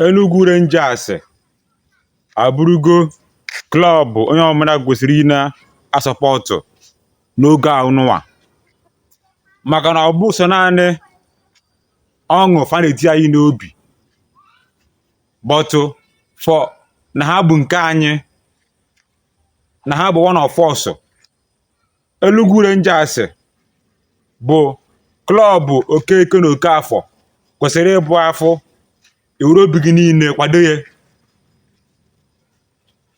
Enugwu Rangers abụrụgo klọb onye ọbụla kwesịrị ị na-asọpọtụ n'oge a nụwa maka na ọ bụghị sọ naanị ọṅụ fa na-eti anyị n'obi but for na ha bụ nke anyị na ha bụ one of us Enugu Rangers bụ klọb Okeke na Okafọ kwesịrị ịbụ a fụ i were obi gị niile kwado ya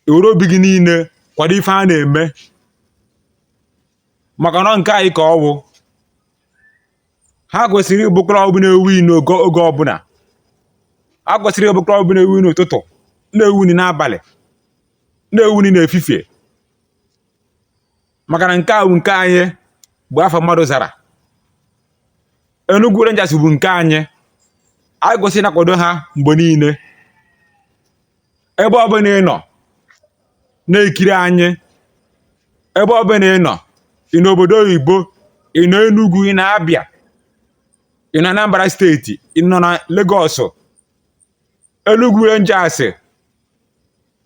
i were obi gị niile kwado ife ha na-eme maka na nke anyị ka ọ wụ ha kwesịrị ịbụ klọb na-ewin n'oge ọbụla ha kwesịrị ịbụ klọb na-ewin n'ụtụtụ na-ewin n'abalị na-ewin n'efifie maka na nke a bụ nke anyị bụ afa mmadụ zara Enugu Rangers bụ nke anyị anyị kwesịrị ịna-akwado ha mgbe niile ebe ọbụla ị nọ na-ekiri anyị ebe ọbụla ị nọ ị nọ obodo oyibo ị nọ Enugu ị nọ Abịa ị nọ Anambra steeti ị nọ na Legọs Enugu Rangers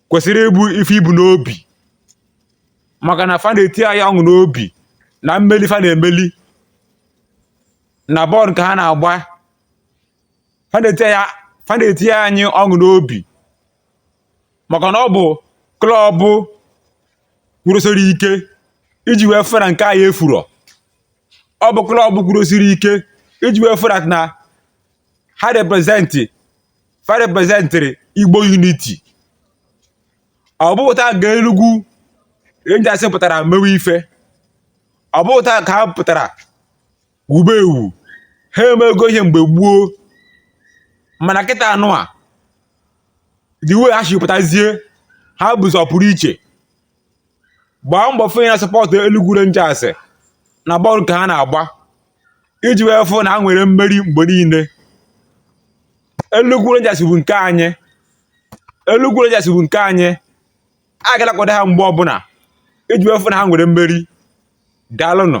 kwesịrị ịbụ ife i bu n'obi maka na fa na-eti anyị ọṅụ n'obi na mmeli fa na-emeli na bọọlụ nke ha na-agba fa na-eti anyị ọṅụ n'obi maka na ọ bụ klọbụ kwụrụsiri ike iji wee fụ na nke anyị efurọ ọ bụ klọbụ kwụrụsiri ike iji wee fụ na ha represent fa representịrị Igbo unity ọ bụghị taa ka Enugwu Rangers pụtara mewe ife ọ bụghị taa ka ha pụtara wube ewu ha emego ihe mgbe gboo mana kịta nụwa the way ha si pụtazie ha bụzi ọpụrụ iche gbaa mbọ fụ ya sọpọtụ Enugu Rangers na bọọlụ nke ha na-agba iji wee fụ na ha nwere mmeri mgbe niile Enugu Rangers bụ nke anyị Enugu Rangers bụ nke anyị a ga na-akwado ha mgbe ọbụla iji wee fụ na ha nwere mmeri daalụnụ